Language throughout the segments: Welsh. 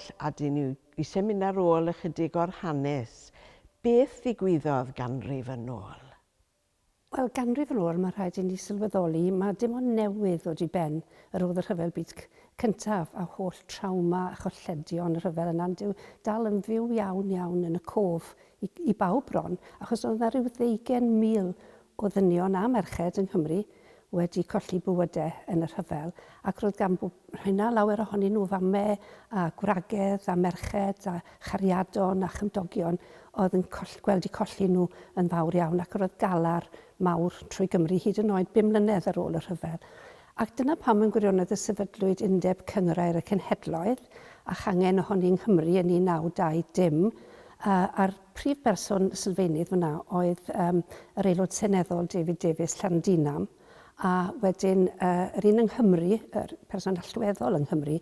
Well a dyn yw i seminar ar ôl ychydig o'r hanes. Beth ddigwyddodd ganrif yn ôl? Wel, ganrif yn ôl, mae rhaid i ni sylweddoli, mae dim ond newydd ddod i ben yr oedd y Rhyfel Byd Cyntaf a holl trawma a cholledion y rhyfel yna, ond yw dal yn fyw iawn iawn yn y cof i i bawb bron, achos oedd 'na ryw ddeugain mil o ddynion a merched yng Nghymru wedi colli bywyde yn y rhyfel ac roedd gan Rhena lawer ohonyn nhw fame a gwragedd a merched a chariadon a chymdogion oedd yn coll, gweld i colli nhw yn fawr iawn ac roedd galar mawr trwy Gymru hyd yn oed bum mlynedd ar ôl y rhyfel. Ac dyna pam yn gwirionedd y sefydlwyd Undeb Cynghrair y Cenhedloedd a changen ohoni yng Nghymru yn 1920 a, a'r Prif berson sylfaenydd fan'na oedd yym yr Aelod Seneddol David Davies, Llandinam, a wedyn yy yr un yng Nghymru, yr person allweddol yng Nghymru,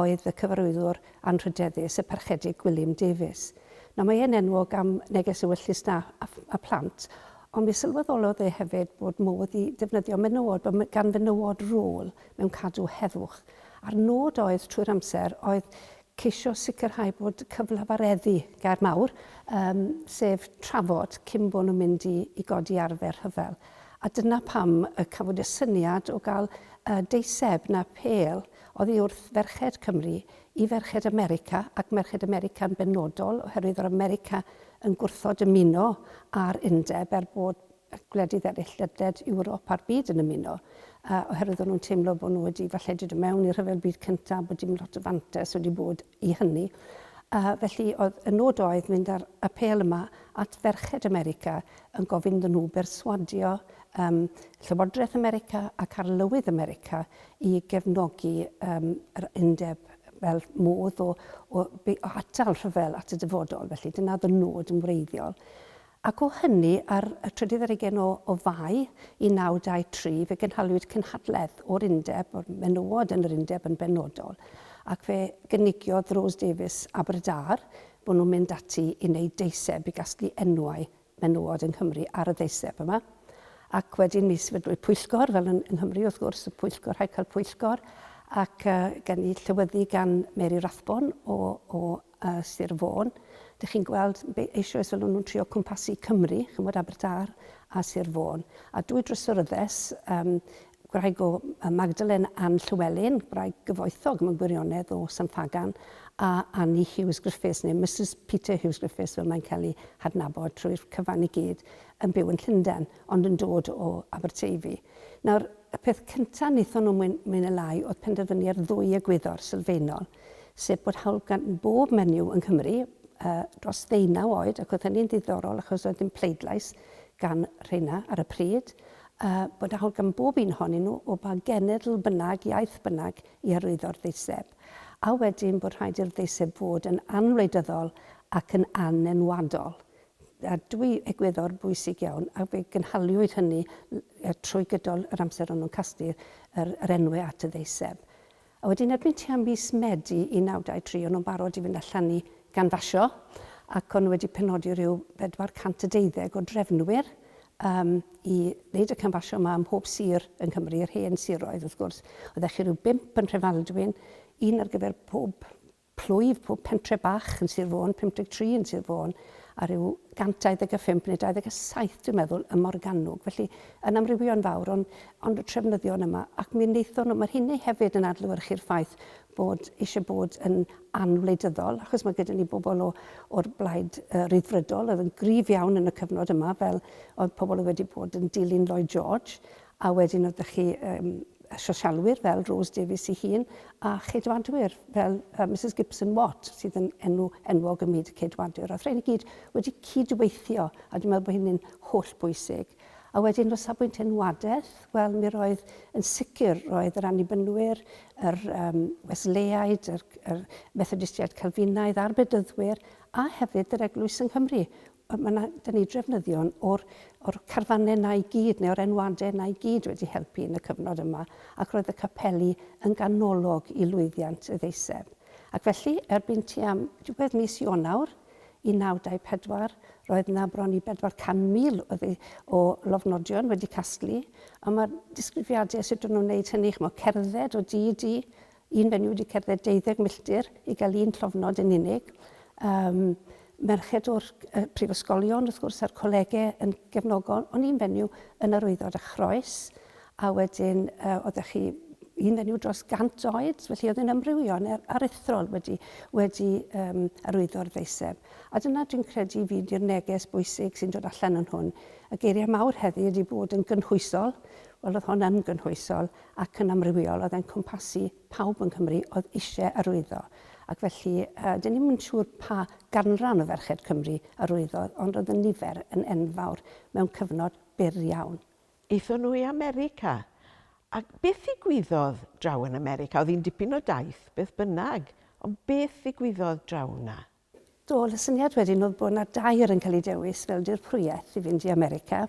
oedd y cyfarwyddwr anrhydeddus, y Parchedig Gwilym Davies. Nawr mae e'n enwog am neges ewyllys 'na a, a phlant, ond mi sylweddolodd e hefyd bod modd i ddefnyddio menywod, bod gan fenywod rôl mewn cadw heddwch. A'r nod oedd, trwy'r amser, oedd ceisio sicrhau bod cyflafareddu, gair mawr, yym, sef trafod cyn bod nhw'n mynd i i godi arfer rhyfel. A dyna pam y cafwyd y syniad o gael y deiseb na phêl oddi wrth ferched Cymru i ferched America, ac merched America yn benodol, oherwydd yr America yn gwrthod ymuno â'r undeb er bod y gwledydd eraill ledled Ewrop a'r byd yn ymuno, yy, oherwydd o'n nhw'n teimlo bod nhw wedi falle dod mewn i'r Rhyfel Byd Cyntaf, bod dim lot o fantais wedi bod i hynny. Uh, felly oedd y nod oedd mynd ar y pel yma at ferched America yn gofyn iddyn nhw berswadio um, Llywodraeth America ac Arlywydd America i gefnogi um, yr undeb fel modd o, o, o atal rhyfel at y dyfodol. Felly dyna oedd y nod yn wreiddiol. Ac o hynny, ar y trydydd ar hugain o o Fai 1923, fe gynhaliwyd cynhadledd o'r Undeb, o'r menywod yn yr Undeb yn benodol, ac fe gynigiodd Rose Davies Aberdâr bod nhw'n mynd ati i wneud deiseb i gasglu enwau menywod yng Nghymru ar y ddeiseb yma. Ac wedyn mi sefydlwyd pwyllgor, fel yn yng Nghymru wrth gwrs, y pwyllgor, rhaid cael pwyllgor, ac gawn ni llywyddu gan Mary Rathbone o o a Sir Fôn. Dych chi'n gweld eisoes fel o'n nhw'n trio cwmpasu Cymru, chymod Abertdâr a Sir Fôn. A dwy drysoryddes, um, gwraig o Magdalene Ann Llywelyn, gwraig gyfoethog mewn gwirionedd o San Ffagan, a Annie Hughes Griffiths, neu Mrs Peter Hughes Griffiths fel mae'n cael ei hadnabod trwy'r cyfan i gyd, yn byw yn Llundain, ond yn dod o Aberteifi. Nawr, y peth cyntaf wnaethon nhw mwy, mwy neu lai oedd penderfynu ar ddwy egwyddor sylfaenol. sef bod hawl gan bob menyw yng Nghymru dros ddeunaw oed, ac oedd hynny'n ddiddorol achos oedd dim pleidlais gan rheina ar y pryd, bod hawl gan bob un ohonyn nhw, o ba genedl bynnag, iaith bynnag, i arwyddo'r ddeiseb. A wedyn bod rhaid i'r ddeiseb fod yn anwleidyddol ac yn anenwadol. A dwi egwyddor bwysig iawn, a fe gynhaliwyd hynny trwy gydol yr amser o'n nhw'n casglu'r enwau at y ddeiseb. A wedyn erbyn tua mis Medi 1923 o'n nhw'n barod i fynd allan i ganfasio ac o'n nhw wedi penodi rhyw bedwar cant a deuddeg o drefnwyr yym i wneud y canfasio yma ym mhob sir yng Nghymru, yr hen siroedd wrth gwrs. Oeddech chi rhyw bump yn Nhrefaldwyn, un ar gyfer pob plwyf pob pentre bach yn Sir Fôn, 53 yn Sir Fôn, a rhyw 125 neu 27 dwi'n meddwl ym Morgannwg, felly yn amrywio'n fawr, ond, ond y trefnyddion yma, ac mi wnaethon nhw, mae'r hynny hefyd yn adlewyrchu'r ffaith bod eisiau bod yn anwleidyddol, achos mae gyda ni bobl o, o'r blaid uh, ryddfrydol oedd yn gryf iawn yn y cyfnod yma, fel oedd pobl oedd wedi bod yn dilyn Lloyd George, A wedyn oedd 'da chi yym y sosialwyr fel Rose Davies ei hun a cheidwadwyr fel yy Misus Gibson Watt sydd yn enw enwog ym myd y ceidwadwyr. Ath rhein i gyd wedi cyd-weithio a dwi'n meddwl bod hynny'n holl bwysig. A wedyn o safbwynt enwadaeth, wel mi roedd yn sicr roedd yr Annibynwyr, yr um, Wesleaid, yr, yr Methodistiaid Calfinaidd a'r Bedyddwyr a hefyd yr Eglwys yng Nghymru Mae 'na... dan ni drefnyddion o'r, o'r carfanau yna i gyd, neu o'r enwadau yna i gyd wedi helpu yn y cyfnod yma, ac roedd y capeli yn ganolog i lwyddiant y ddeiseb. Ac felly, erbyn tua diwedd mis Ionawr 1924, roedd 'na bron i 400,000 o ddei- o lofnodion wedi casglu, a mae'r disgrifiadau sut o'n nhw'n wneud hynny, chimod, cerdded o dŷ i dŷ, Yn fy ni wedi cerdded deuddeg milltir i gael un llofnod yn unig. Yym, merched o'r yy prifysgolion, wrth gwrs, a'r colege yn gefnogol, ond un fenyw yn yr wyddor a chroes, a wedyn yy oeddech chi un fenyw dros 100 oed, felly oedd yn amrywio, neu'r aruthrol wedi, wedi um, arwyddo'r ddeiseb. A dyna dwi'n credu fi di'r neges bwysig sy'n dod allan yn hwn. Y geiriau mawr heddi ydy bod yn gynhwysol, wel oedd hon yn gynhwysol, ac yn amrywiol oedd e'n cwmpasu pawb yng Nghymru oedd eisiau arwyddo ac felly yy dyn ni'm yn siŵr pa ganran o ferched Cymru arwyddodd ond oedd y nifer yn enfawr mewn cyfnod byr iawn. Aethon nhw i America. Ac beth ddigwyddodd draw yn America? Oedd hi'n dipyn o daith beth bynnag ond beth ddigwyddodd draw 'na? Doedd y syniad wedyn oedd bod 'na dair yn cael eu dewis fel dirprwyaeth i fynd i America,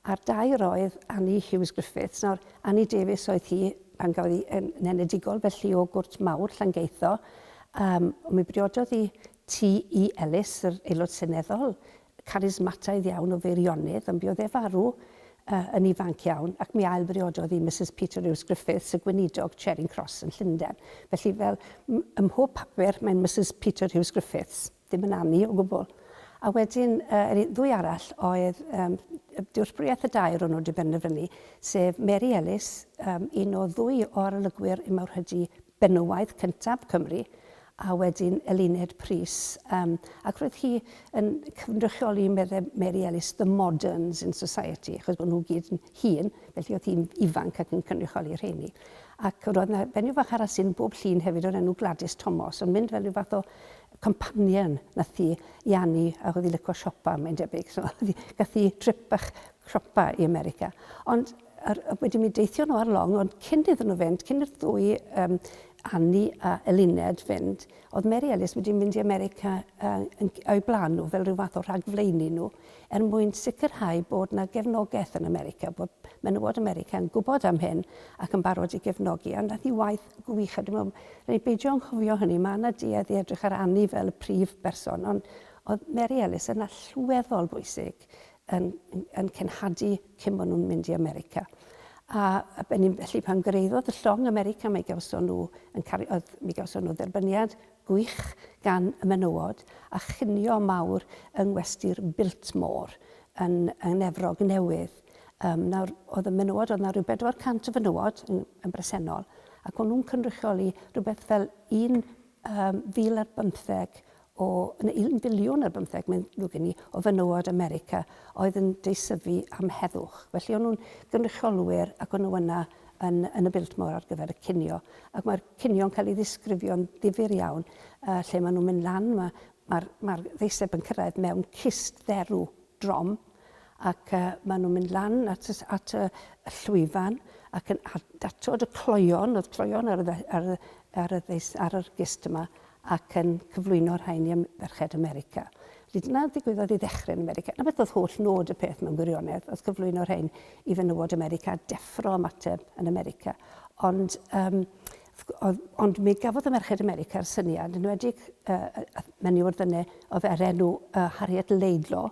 a'r dair oedd Annie Hughes-Griffiths. Nawr, Annie Davies oedd hi pan gafodd hi yn nenedigol, felly o gwrt mawr Llangeitho, yym, mi briododd hi T. E. Ellis, yr Aelod Seneddol, charismataidd iawn o Feirionnydd ond buodd e farw yn ifanc iawn ac mi ailbriododd i Misus Peter Rhys Griffiths, y gweinidog, Charing Cross yn Llundain. Felly fel ym mhob papur mae'n Misus Peter Rhys Griffiths, ddim yn Annie o gwbl. A wedyn yr ddwy arall oedd dealltwriaeth y dair o'n nhw wedi penderfynu, sef Mary Ellis, un o ddwy o arolygwyr Immawrhydi benywaidd cyntaf Cymru a wedyn Eluned Prys yym ac roedd hi yn cynrychioli medde Mary Ellis the moderns in society achos bod nhw gyd yn hŷn felly oedd hi'n ifanc ac yn cynrychioli'r rheiny ac roedd yna fenyw fach arall sy'n bob llun hefyd o'r enw Gladys Tomos yn mynd fel rhyw fath o companion nath hi i Anni ac oedd hi'n licio siopa mae'n debyg so oedd hi gath hi trip bach siopa i America ond Ar, wedi mi deithio nhw ar long, ond cyn iddyn nhw fynd, cyn i'r ddwy um, Anni a Eluned fynd, oedd Mary Ellis wedi mynd i America uh, yn, o'i blaen nhw fel rhyw fath o rhagflaenu nhw er mwyn sicrhau bod yna gefnogaeth yn America, bod menywod America yn gwybod am hyn ac yn barod i gefnogi. A nath ni waith gwych a dwi'n meddwl, rhaid ni beidio anghofio hynny, mae yna duedd i edrych ar Anni fel y prif berson, ond oedd Mary Ellis yn allweddol bwysig yn yn cenhadu cyn bod nhw'n mynd i America. A a be' ni'n felly pan gyreuddodd y llong America mi gawson nhw yn cari- oedd mi gawson nhw dderbyniad gwych gan y menywod a chinio mawr yng ngwesty'r Biltmore yn yn Efrog Newydd. Yym nawr oedd y menywod oedd 'na ryw bedwar cant o fenywod yn yn bresennol ac o'n nhw'n cynrychioli rhywbeth fel un yym fil ar bymtheg O yn y un biliwn ar bymtheg mae'n ddrwg gen i, o fenywod America oedd yn deisyfu am heddwch. Felly o'n nhw'n gynrychiolwyr ac o'n nhw yna yn, yn y Biltmore ar gyfer y cinio. Ac mae'r cinio'n cael ei ddisgrifio'n ddifyr iawn, yy lle maen nhw'n mynd lan, ma' ma'r ma'r ddeiseb yn cyrraedd mewn cist dderw. drom ac maen nhw'n mynd lan at y at y llwyfan ac yn datod y cloeon, oedd cloeon ar y ar y ar y ar yr gist yma ac yn cyflwyno rhain i ferched America. Felly dyna ddigwyddodd i ddechrau yn America. Na beth oedd holl nod y peth mewn gwirionedd, oedd cyflwyno rhain i fenywod America, deffro ymateb yn America. Ond um, Th-oedd, ond mi gafodd y Merched America'r syniad, yn enwedig y, y, y menyw o'r Ddyne, oedd ar enw y, Harriet Laidlaw,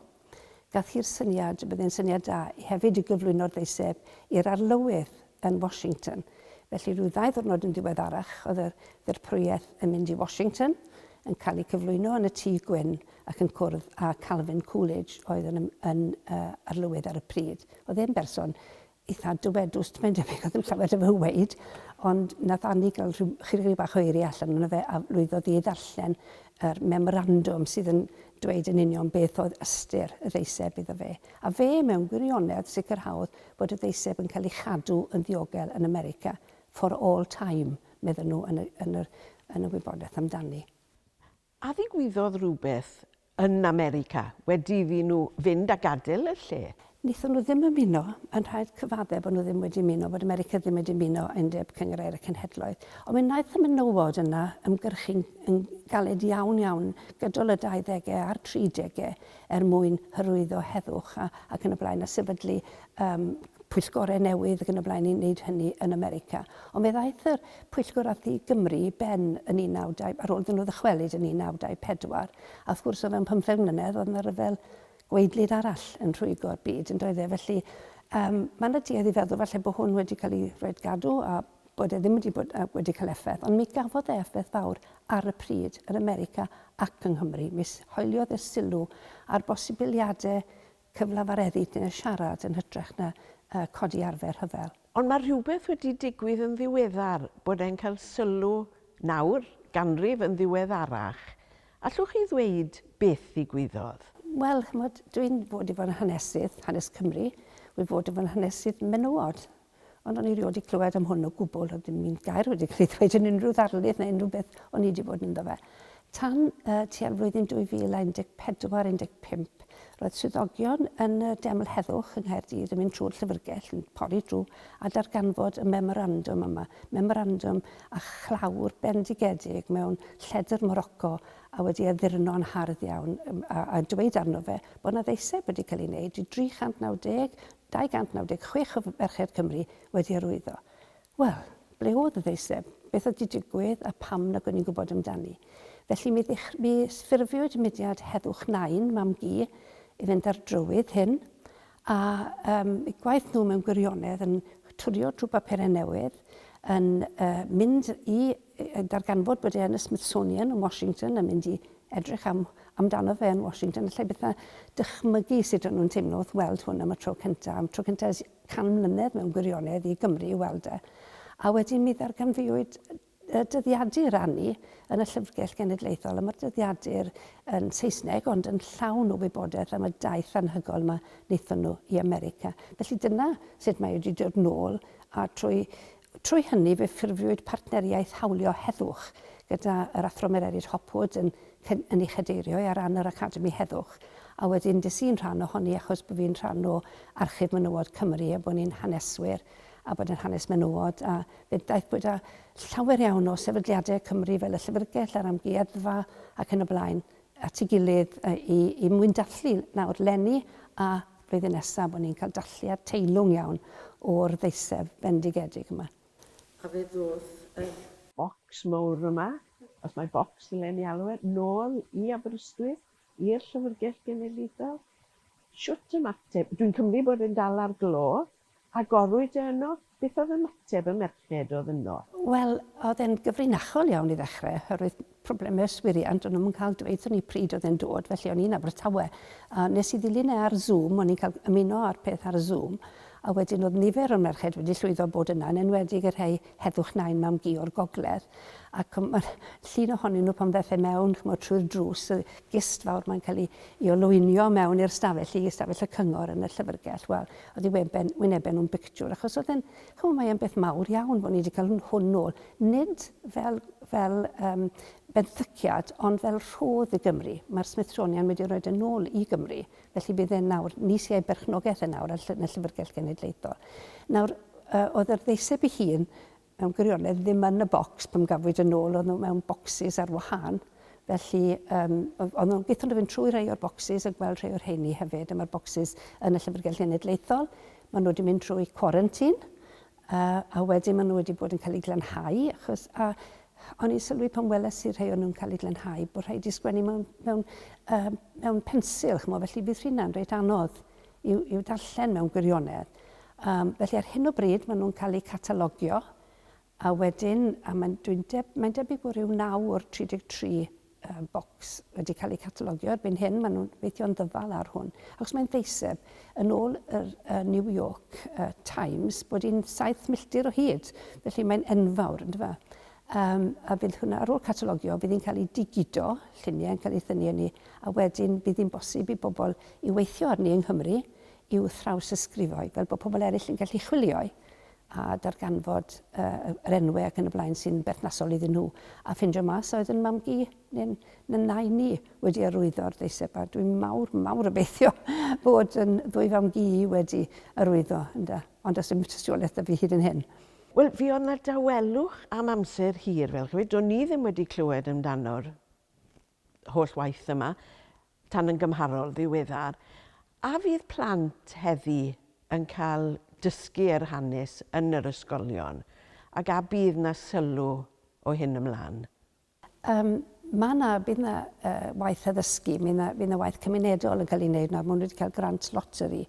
gath hi'r syniad, y bydde'n syniad da, i hefyd i gyflwyno'r ddeiseb i'r Arlywydd yn Washington. Felly rhyw ddau ddwrnod yn ddiweddarach oedd yr ddirprwyaeth yn mynd i Washington, yn cael ei cyflwyno yn y Tŷ Gwyn ac yn cwrdd â Calvin Coolidge oedd yn, yn, y, Arlywydd ar y pryd. Oedd e'n berson eitha dywedus, mae'n debyg oedd yn llawer o fy weid, ond nath Annie gael rhyw, chydig bach o eiriau allan yno fe a lwyddodd i ddarllen yr memorandwm sydd yn dweud yn union beth oedd ystyr y ddeiseb iddo fe. A fe, mewn gwirionedd, sicrhaodd bod y ddeiseb yn cael ei chadw yn ddiogel yn America for all time, medden nhw yn y, yn yr, yn y wybodaeth amdani. A ddigwyddodd rhywbeth yn America wedi iddyn nhw fynd a gadael y lle? Wnaethon nhw ddim ymuno, mae'n rhaid cyfaddef bod nhw ddim wedi ymuno, bod America ddim wedi ymuno â Undeb Cynghrair y Cenhedloedd, ond mi wnaeth y menywod yna ymgyrchu'n yn galed iawn, iawn gydol y 20au a'r 30au er mwyn hyrwyddo heddwch a ac yn y blaen a sefydlu yym pwyllgorau newydd ac yn y blaen i wneud hynny yn America. Ond fe ddaeth yr Pwyllgor a thu Gymru i ben yn 19... ar ôl iddyn nhw ddychwelyd yn 1924. A wrth gwrs, o fewn pymtheg mlynedd, oedd 'na ryfel gwaedlyd arall yn rhwygo'r byd, yn doedd e? Felly, yym, mae 'na duedd i feddwl falle bod hwn wedi cael ei rhoid gadw a bod e ddim wedi bod, yy, wedi cael effaith. Ond mi gafodd e effaith fawr ar y pryd yn America ac yng Nghymru. Mi hoeliodd e sylw ar bosibiliadau Cyfle mae'r eryd neu'r siarad yn hytrach na codi arfer rhyfel. Ond mae rhywbeth wedi digwydd yn ddiweddar, bod e'n cael sylw nawr, ganrif yn ddiweddarach. Allwch chi ddweud beth ddigwyddodd? Wel, ch'mod, dwi'n fod i fod yn hanesydd, hanes Cymru, wi fod i fod yn hanesydd menywod. Ond o'n i rioed wedi clywed am hwn o gwbl, oedd dim un gair wedi cael ei ddweud yn unrhyw ddarlith neu unrhyw beth o'n i wedi bod ynddo fe. Tan uh, tua'r flwyddyn 2014-15, roedd swyddogion yn y Deml Heddwch yng Nghaerdydd yn mynd trwy'r llyfrgell, yn pori drwy a darganfod y memorandwm yma, memorandwm a chlawr bendigedig mewn lledr Morocco a wedi addurno'n hardd iawn a, a dweud arno fe bod yna ddeiseb wedi cael ei wneud i 390 296 o ferched Cymru wedi arwyddo. Wel, ble oedd y ddeiseb? Beth oedd 'di digwydd a pam nag o'n i'n gwybod amdani? Felly mi ddech- mi ffurfiwyd mudiad Heddwch Nain, Mam-gu, i fynd â'r drywydd hyn, a yym eu gwaith nhw mewn gwirionedd yn twrio trwy bapurau newydd, yn yy mynd i yn darganfod bod e yn y Smithsonian yn Washington yn mynd i edrych am, amdano fe yn Washington, allai byth na dychmygu sut o'n nhw'n teimlo wrth weld hwn am y tro cyntaf, am tro cyntaf ers can mlynedd mewn gwirionedd i Gymru i weld e. A wedyn mi ddarganfuwyd y dyddiadur anni yn y Llyfrgell Genedlaethol, a mae'r dyddiadur yn Saesneg ond yn llawn o wybodaeth am y daith anhygoel yma wnaethon nhw i America. Felly dyna sut mae wedi dod nôl a trwy Trwy hynny fe ffurfiwyd partneriaeth hawlio heddwch gyda yr Athro Mererid Hopwood yn yn ei chadeirio i ar ran yr Academi Heddwch a wedyn des i'n rhan ohoni achos bo' fi'n rhan o Archif Menywod Cymru a bo' ni'n haneswyr a bod yn hanes menywod a fe ddaeth bod â llawer iawn o sefydliadau Cymru fel y Llyfrgell a'r Amgueddfa ac yn y blaen at ei gilydd i i mwyn dathlu nawr leni a flwyddyn nesaf bod ni'n cael dathliad teilwng iawn o'r ddeiseb bendigedig yma. A fe ddoth yr. Bocs mowr yma, os mai bocs ddylen ni alw e, nôl i Aberystwyth, i'r Llyfrgell Genedlaethol. Shwt ymateb? Dwi'n cymryd bod e'n dal ar glo. Agorwyd e yno? Beth oedd ymateb y merched oedd yno? Wel, oedd e'n gyfrinachol iawn i ddechrau, oherwydd problemau yswiriant, o'n nhw'm yn cael dweud wrthon ni pryd oedd e'n dod, felly o'n i'n Abertawe, a wnes i ddilyn e ar Zoom, o'n i'n cael ymuno â'r peth ar Zoom, a wedyn oedd nifer o'r merched wedi llwyddo bod yna, yn enwedig y rhei heddwch nain mam-gu o'r gogledd, ac mae'r llun ohonyn nhw pan ddaeth e mewn, ch'mod, trwy'r drws, y gist fawr 'ma'n cael ei olwynio mewn i'r stafell, i stafell y cyngor yn y llyfrgell, wel, Oddi weben, wynebe nhw'n bictiwr, achos oedd e'n, ch'mod, mae e'n beth mawr iawn bod ni wedi cael hwn, hwn nôl, nid fel, fel um, benthyciad, ond fel rhodd i Gymru. Mae'r Smithsonian wedi rhoi e'n nôl i Gymru, felly bydd e'n nawr, ni sy'n ei berchnogaeth yn nawr yn y Llyfrgell Genedlaethol. Nawr, uh, oedd yr ddeiseb i hun mewn gwirionedd ddim yn y bocs pan gafwyd yn ôl, oedden nhw mewn bocsys ar wahân, felly yym oedden nhw, gaethon nhw fynd trwy rhai o'r bocsys a gweld rhai o'r rheini hefyd, a mae'r bocsys yn y Llyfrgell Genedlaethol, maen nhw wedi mynd trwy cwarantîn, a a wedyn maen nhw wedi bod yn cael eu glanhau, achos a o'n i'n sylwi pan weles i rhai o'n nhw'n cael eu glanhau bod rhaid i sgwennu mewn mewn yy mewn pensil, ch'mo', felly bydd rheina'n reit anodd. i'w, i'w darllen mewn gwirionedd. Um, felly ar hyn o bryd maen nhw'n cael eu catalogio a wedyn, a mae'n deb, mae debyg bod rhyw 9 o'r 33 uh, bocs wedi cael eu catalogio erbyn hyn, maen nhw'n weithio'n ddyfal ar hwn. Ac os mae'n ddeiseb, yn ôl yr uh, New York uh, Times, bod hi'n 7 milltir o hyd, felly mae'n enfawr, ynddo fe? Yym, a fydd hwnna, ar ôl catalogio, fydd hi'n cael ei digido, lluniau yn cael eu thynnu arni, a wedyn bydd hi'n bosib i bobl i weithio arni yng Nghymru i'w thrawsysgrifo'i, fel bod pobl eraill yn gallu chwilio'i a darganfod yy yr enwau ac yn y blaen sy'n berthnasol iddyn nhw, a ffindio mas a oedd yn mam-gu neu'n na nain i wedi arwyddo'r ddeiseb, a dwi'n mawr, mawr obeithio bod yn ddwy fam-gu i wedi arwyddo, ynde, ond does dim tystiolaeth 'da fi hyd yn hyn. Wel, fi oedd 'na dawelwch am amser hir, fel ch'mod, do'n i ddim wedi clywed amdano'r holl waith yma, tan yn gymharol ddiweddar. A fydd plant heddi yn cael dysgu yr hanes yn yr ysgolion, ac a bydd 'na sylw o hyn ymlan? Yym, mae 'na, bydd 'na yy waith addysgu, mi 'na, fydd 'na waith cymunedol yn cael ei wneud nawr, maen nhw wedi cael grant loteri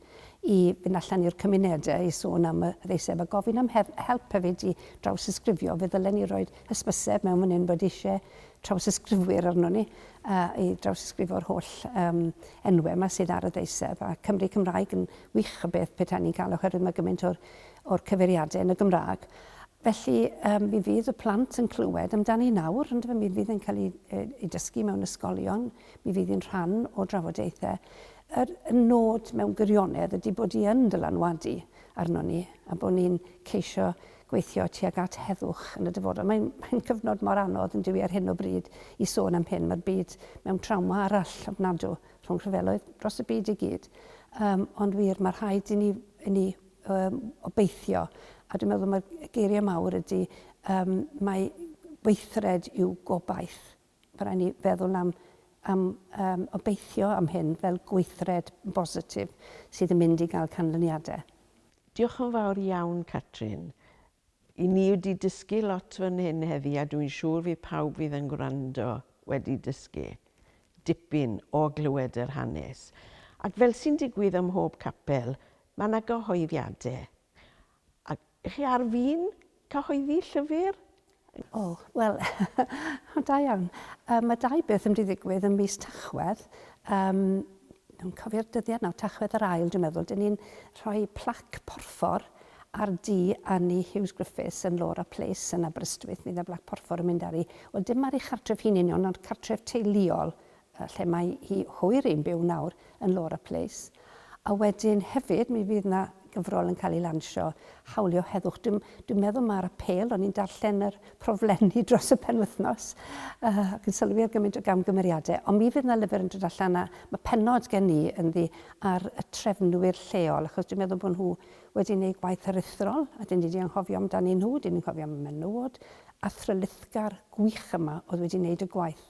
i fynd allan i'r cymunedau i sôn am y ddeiseb a gofyn am hef- help hefyd i drawsysgrifio, fe ddylen ni roid hysbyseb mewn fan hyn bod isie trawsysgrifwyr arnon ni a i drawsysgrifo'r holl yym enwau 'ma sydd ar y ddeiseb a Cymry Cymraeg yn wych o beth petai ni'n cael oherwydd mae gymaint o'r o'r cyfeiriadau yn y Gymraeg. Felly, um, mi fydd y plant yn clywed amdani nawr, ond mi fydd yn cael ei, ei dysgu mewn ysgolion, mi fydd yn rhan o drafodaethau. Yr nod mewn gwirionedd ydy bod i yn dylanwadu arno ni a bod ni'n ceisio gweithio tuag at heddwch yn y dyfodol. Mae'n mae cyfnod mor anodd yn dywi ar hyn o bryd i sôn am hyn. Mae'r byd mewn trawma arall ofnadw rhwng rhyfeloedd dros y byd i gyd. Um, ond wir, mae rhaid i ni, i ni um, obeithio. A dwi'n meddwl mae'r geiriau mawr ydy, um, mae weithred yw gobaith. Mae rhaid ni feddwl am, am um, obeithio am hyn fel gweithred bositif sydd yn mynd i gael canlyniadau. Diolch yn fawr iawn, Catrin. I ni wedi dysgu lot fan hyn heddi a dwi'n siŵr fydd pawb fydd yn gwrando wedi dysgu dipyn o glywed yr hanes. Ac fel sy'n digwydd ym mhob capel, mae 'na gyhoeddiadau. A chi ar fin cyhoeddi llyfr? O, wel, da iawn. Mae dau beth yn mynd i ddigwydd ym mis Tachwedd. Dwi'n cofio'r dyddiad nawr, Tachwedd yr Ail dwi'n meddwl, dyn ni'n rhoi plac porffor ar du Annie Hughes Griffiths yn Laura Place yn Aberystwyth, mi fydd y blac porffor yn mynd ar hi. Wel dim ar ei chartref hi'n union ond cartref teuluol yy lle mae hi hwyr i'n byw nawr yn Laura Place. A wedyn hefyd mi fydd 'na gyfrol yn cael ei lansio, hawlio heddwch. Dwi'n, dwi'n meddwl mae'r apel, o'n i'n darllen yr proflenni dros y penwythnos, uh, ac yn sylwi ar gymaint o gamgymeriadau, ond mi fydd yna lyfr yn dod allan a mae penod gen i yn ddi ar y trefnwyr lleol, achos dwi'n meddwl bod nhw wedi gwneud gwaith aruthrol, a dyn ni wedi anghofio amdanyn nhw, dyn ni'n cofio am y menywod athrylithgar gwych yma oedd wedi gwneud y gwaith.